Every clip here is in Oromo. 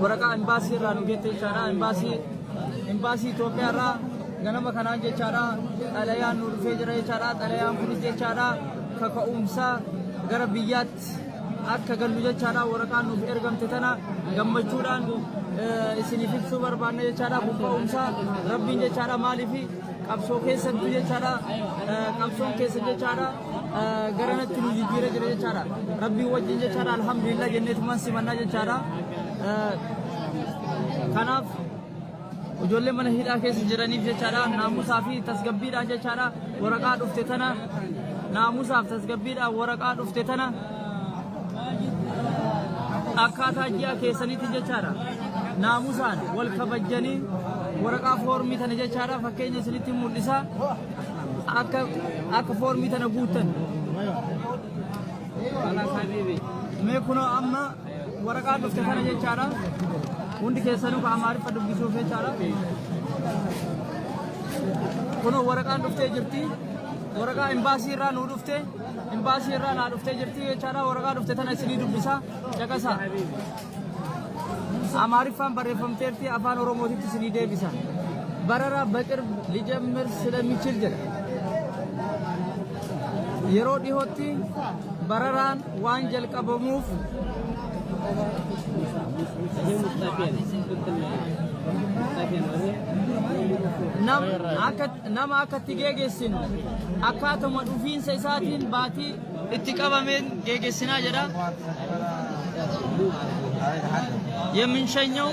waraqaa imbaasii irraa nu geette jechaadha. Imbaasii imbaasii Itoophiyaa irraa ganama kanaan jechaadha. Xalayaan nu dhufee jira jechaadha. Xalayaan kunis jechaadha kaka'umsa gara biyyaatti akka gallu jechaadha waraqaa nuuf ergamte tana gammachuudhaan isiniif ibsuu barbaanna jechaadha kun ka'umsa rabbiin jechaadha maaliif qabsoo keessattu jechaadha qabsoon keessa jechaadha garanatti nu jijjiira jira jechaadha rabbiin wajjin jechaadha alhamdulillah jenneetumaan simannaa jechaadha kanaaf Ijoollee mana hidhaa keessa jiraniif jechaadha naamusaa fi tasgabbiidhaan jechaadha waraqaa dhufte tana naamusaaf tasgabbiidhaan waraqaa dhufte tana akkaataa ji'a keessanitti jechaadha naamusaan wal kabajjanii waraqaa foormii tana jechaadha fakkeenya isinitti mul'isa akka akka foormii tana guuttan. Mee kunoo amma Waraqaa dhufte kana jechaadha. Hundi keessanuu ka Amaariffa dubbisuuf jechaadha. Kunoo waraqaan dhuftee jirti. Waraqaa imbaasii irraa nuu dhufte. Imbaasii irraa naa dhuftee jirti jechaadha. Waraqaa dhufte tana isinii dubbisa. Caqasa. Amaariffaan barreeffamteerti afaan Oromootitti isinii deebisa. Barara baqir lijamir silamichil jedha. Yeroo dhihootti bararaan waan jalqabamuuf nama akka itti geegessinu akkaatuma dhufiinsa isaatiin baatii itti qabameen geegessinaa jedha. Yemin shanyawu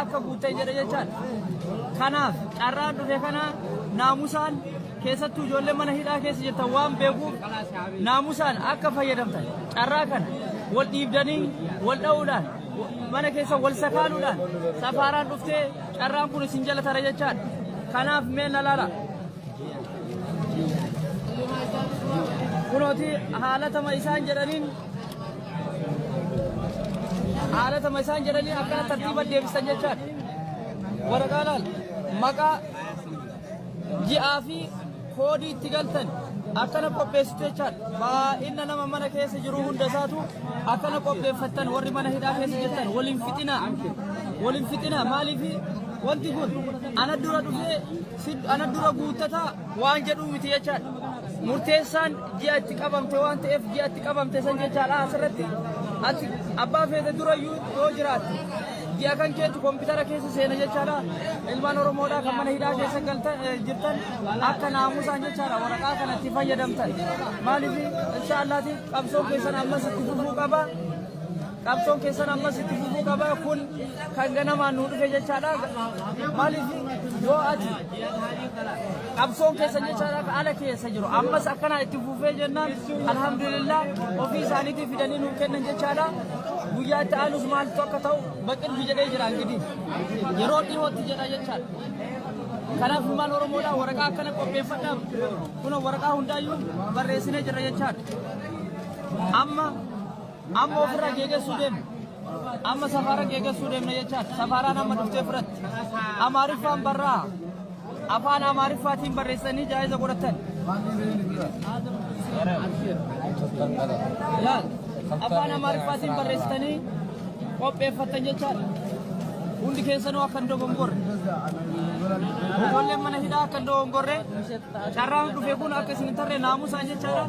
akka guuttee jedhe jechaan kanaaf carraan dhufe kana naamusaan keessattuu ijoollee mana hidhaa keessa jirtan waan beekuuf naamusaan akka fayyadamtan carraa kana wal dhiibdanii wal dha'uudhaan mana keessa wal sakaaluudhaan safaaraan dhuftee carraan kun isin jala tara jechaan kanaaf mee na laala. Kunooti haalatama isaan jedhaniin haalatama isaan jedhanii akkana tartiiba deebisan jechaan waraqaa laal maqaa ji'aa fi koodii itti galtan akkana qopheessitu jechaan baay'ina nama mana keessa jiru hunda isaatu akkana qopheeffattan warri mana hidhaa keessa jirtan waliin fixinaa waliin fixinaa maaliif wanti kun ana dura dhufee Sid ana dura guuttata waan jedhuu miti jechaadha. Murteessaan ji'a itti qabamte waan ta'eef ji'a itti qabamte san jechaadha asirratti ati abbaa feete durayyuu yoo jiraate ji'a kan keetu koompitara keessa seena jechaadha. Ilmaan Oromoodhaa kan mana hidhaa keessa galtan eh, jirtan akka naamusaan jechaadha waraqaa kanatti fayyadamtan. Maaliif inshaallaati qabsoo keessan ammas itti fufuu qaba. Qabsoon keessan ammas itti fufuu qaba. Kun kan ganamaan nu dhufe jechaadha. Maaliif yoo ati qabsoon keessan jechaadha ka ala keessa jiru. Ammas akkanaa itti fufee jennaan alhamdulillah ofii isaaniitii fidanii nuuf kennan jechaadha. Guyyaa itti aanus maaltu akka ta'u baqirfi jedhee jira gidi. Yeroo dhihootti jedha jechaadha. Kanaaf ilmaan Oromoodhaa waraqaa akkana qopheeffadhaaf kun waraqaa hundaayyuu barreessinee jirra jechaadha. Amma Amma ofirraa geegessuu deemna. Amma safaara geegessuu deemna jechaadha. Safaaraan amma dhuftee fudhatti. Amaariffaan barraa. Afaan Amaariffaatiin barreessanii jaa'iza godhatan. Laal. Afaan Amaariffaatiin barreessitanii qopheeffattan jechaadha. Hundi keessanuu akka hin dogongorre. Ijoolleen mana hidhaa akka hin dogongorre. Carraan dhufe kun akka isin hin tarre naamusaan jechaadha.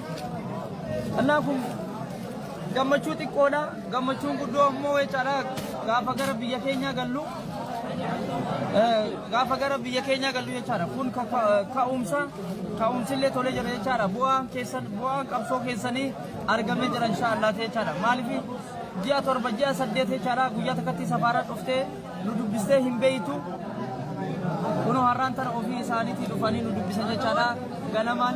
Annaa kun gammachuu xiqqoodha. Gammachuun guddoo ammoo jechaadha gaafa gara biyya keenyaa gallu. Gaafa gara biyya keenyaa gallu jechaadha. Kun ka'umsa ka'umsillee tolee jira jechaadha. Bu'aan keessan bu'aan qabsoo keessanii argamee jira inshaallah jechaadha. Maaliif ji'a torba ji'a saddeet jechaadha guyyaa takkatti safaara dhuftee nu dubbistee hin beeytu. Kunoo har'aan tana ofii isaaniitii dhufanii nu dubbisan jechaadha. Ganamaan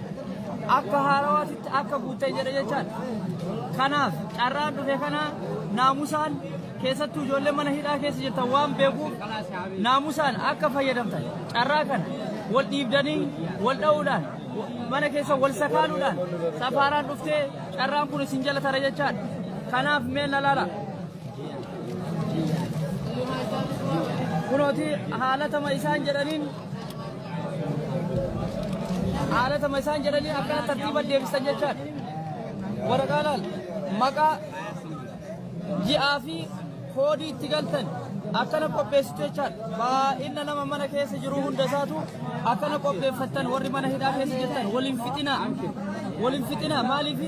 akka haarawaatitti akka guutte jedha jechaan kanaaf carraan dhufe kana naamusaan keessattuu ijoollee mana hidhaa keessa jirtan waan beekuuf naamusaan akka fayyadamtan carraa kana wal dhiibdanii wal dha'uudhaan mana keessa wal sakaaluudhaan safaaraan dhuftee carraan kun isin jala tara jechaan kanaaf mee na laala. Kunooti haalatama isaan jedhaniin Haalatama isaan jedhanii akkana tartiiba deebisan jechaan waraqaa laal maqaa ji'aa fi koodii itti galtan akkana qopheessitu jechaan baay'ina nama mana keessa jiru hunda isaatu akkana qopheeffattan warri mana hidhaa keessa jirtan waliin fixinaa waliin fixinaa maaliif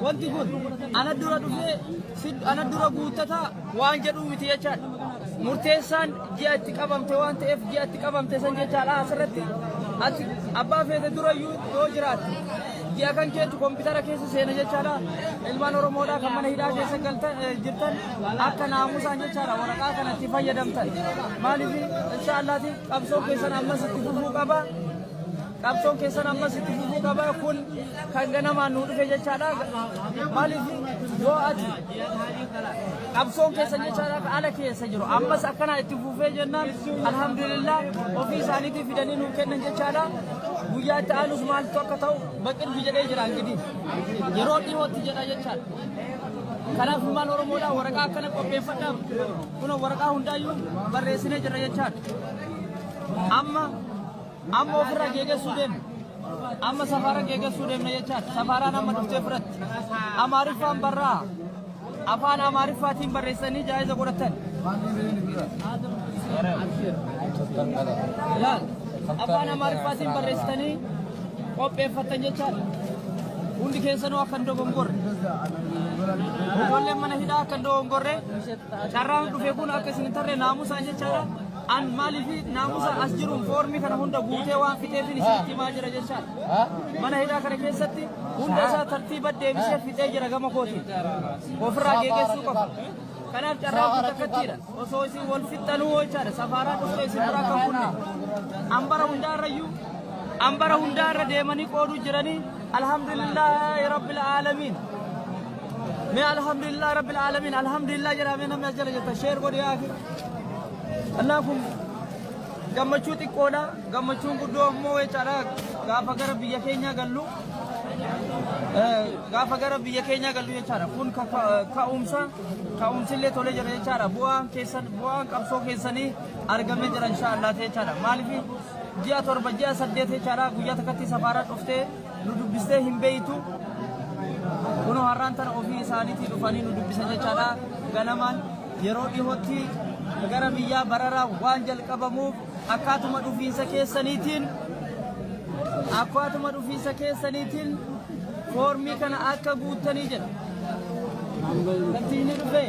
wanti kun ana dura dhufee ana dura guuttataa waan jedhuu miti jechaadha. Murteessaan ji'a itti qabamte waan ta'eef ji'a itti qabamte san jechaadha asirratti ati abbaa feete durayyuu yoo jiraate ji'a kan keetu koompitara keessa seena jechaadha. Ilmaan Oromoodhaa kan mana hidhaa keessa galtan eh, jirtan akka naamusaan jechaadha waraqaa kanatti fayyadamtan. Maaliif inshaallaati qabsoo keessan ammas itti fufuu qaba. qabsoon keessan ammas itti fufuu qaba kun kan ganamaan nu dhufe jechaadha maaliif yoo ati qabsoon keessan jechaadha ka ala keessa jiru ammas akkanaa itti fufee jennaan alhamdulillah ofii isaaniitii fidanii nuuf kennan jechaadha guyyaa itti aanus maaltu akka ta'u baqilfi jedhee jira angidii yeroo dhihootti jedha jechaadha kanaaf ilmaan oromoodha waraqaa akkana qopheeffadha kun waraqaa hundaayyuu barreessinee jira jechaadha amma Amma ofirraa geegessuu deemna. Amma safaara geegessuu deemna jechaadha. Safaaraan amma dhuftee biratti. Amaariffaan barraa. Afaan Amaariffaatiin barreessanii jaayiza godhatan. Laal. Afaan Amaariffaatiin barreessitanii qopheeffatan jechaadha. Hundi keessanuu akka hin dogongorre. Ijoolleen mana hidhaa akka hin dogongorre. Carraan dhufe kun akka isin hin tarre naamusaan jechaadha. An maaliif naamusa as jiruun foormii kana hunda guutee waan fixeefin isinitti himaa jira jechaadha. Mana hidhaa kana keessatti hunda isaa tartiiba deebisee fixee jira gama kootiin. Ofirraa geeggeessuu qaba. Kanaaf carraa kun takkattiidha. Osoo isin wal fixxanuu jechaadha. Safaaraa dhuftee isin biraa kan kunne. Ambara hundaa irrayyuu ambara hundaa irra deemanii qooduu jiranii alhamdulillah rabbil aalamiin. Mee alhamdulillah rabbil alamin alhamdulillah jedhaa mee namni as jala jirtan sheer godhi yaa akhi. Annaa kun gammachuu xiqqoodha gammachuun guddoo ammoo jechaadha gaafa gara biyya keenyaa gallu eh, gaafa gara biyya keenyaa gallu jechaadha kun ka- ka- ka'umsa ka'umsillee tolee jira jechaadha bu'aan keessan bu'aan qabsoo keessanii argamee jira inshaallah jechaadha maaliif ji'a torba ji'a saddeet jechaadha guyyaa takkatti safaaraa dhuftee nu dubbistee hin beeytu kunoo har'aan tana ofii isaaniitii dhufanii nu dubbisan jechaadha ganamaan yeroo dhihootti gara biyyaa bararaa waan jalqabamuuf akkaatuma dhufiinsa keessaniitiin akkaatuma dhufiinsa keessaniitiin foormii kana akka guuttanii jedha. Kantiinni dhufee.